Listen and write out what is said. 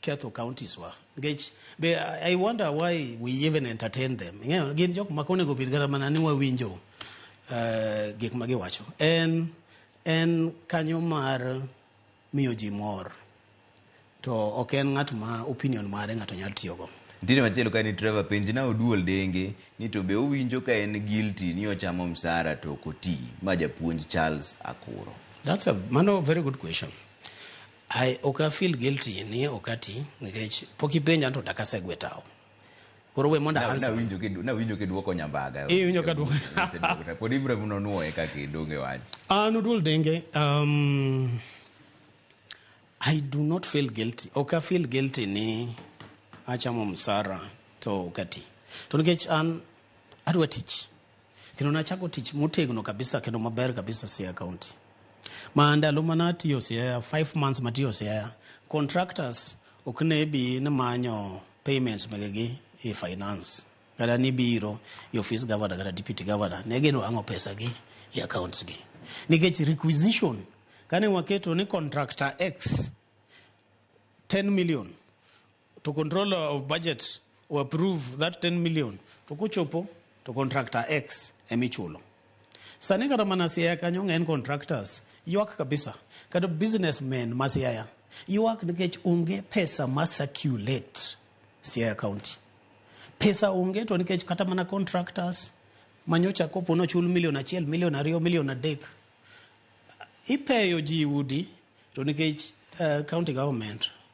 ketho counties wa nikech be I wonder why we even entertain them ing'eyo gin jok ma konego bed kata mana ni wawinjo uh, gik ma giwacho en en kanyo mar miyo ji mor to ok en ng'at ma opinion mare ng'ato nyalo tiyogo Ntiere machielo ka ni Trevor penj na oduol denge ni to be owinjo ka en guilty ni ochamo msara to ok oti. Ma japuonj Charles Akuro. That's a mano very good question. Ai, ok a feel guilty ni ok ati nikech pok ipenja anto dak asegwe tao. Koro we mondo Na- answer. nawinjo kidu- nawinjo kiduoko nyambaga Eh, iwinjo ka duoko. Iseduoko ta. pod ibro mno nuoye kaka idonge wach An Oduol Denge, um, I do not feel guilty. Ok a feel guilty ni achamo msara to ok ati. To nikech an adwa tich. Kendo nachako tich motegno kabisa kendo maber kabisa Siaya County. Ma ndalo mana atiyo Siaya, five months matiyo Siaya, contractors ok ne bi ni manyo payments megegi e finance. Kata ni biro e office governor kata deputy governor, ne gidwang'o pesa gi e accounts gi. Nikech requisition, kane waketo ni contractor X 10 million, to controller of budget o approve that 10 million to kochopo to contractor x emichulo sani kata mana siaya kanyo ng'eny contractors ywak kabisa kata businessmen ma siaya ywak nikech onge pesa ma circulate siaya county pesa onge to nikech kata mana contractors manyocha kopo nochul milion achiel milion ariyo milion adek ipeyo ji udi to nikech uh, county government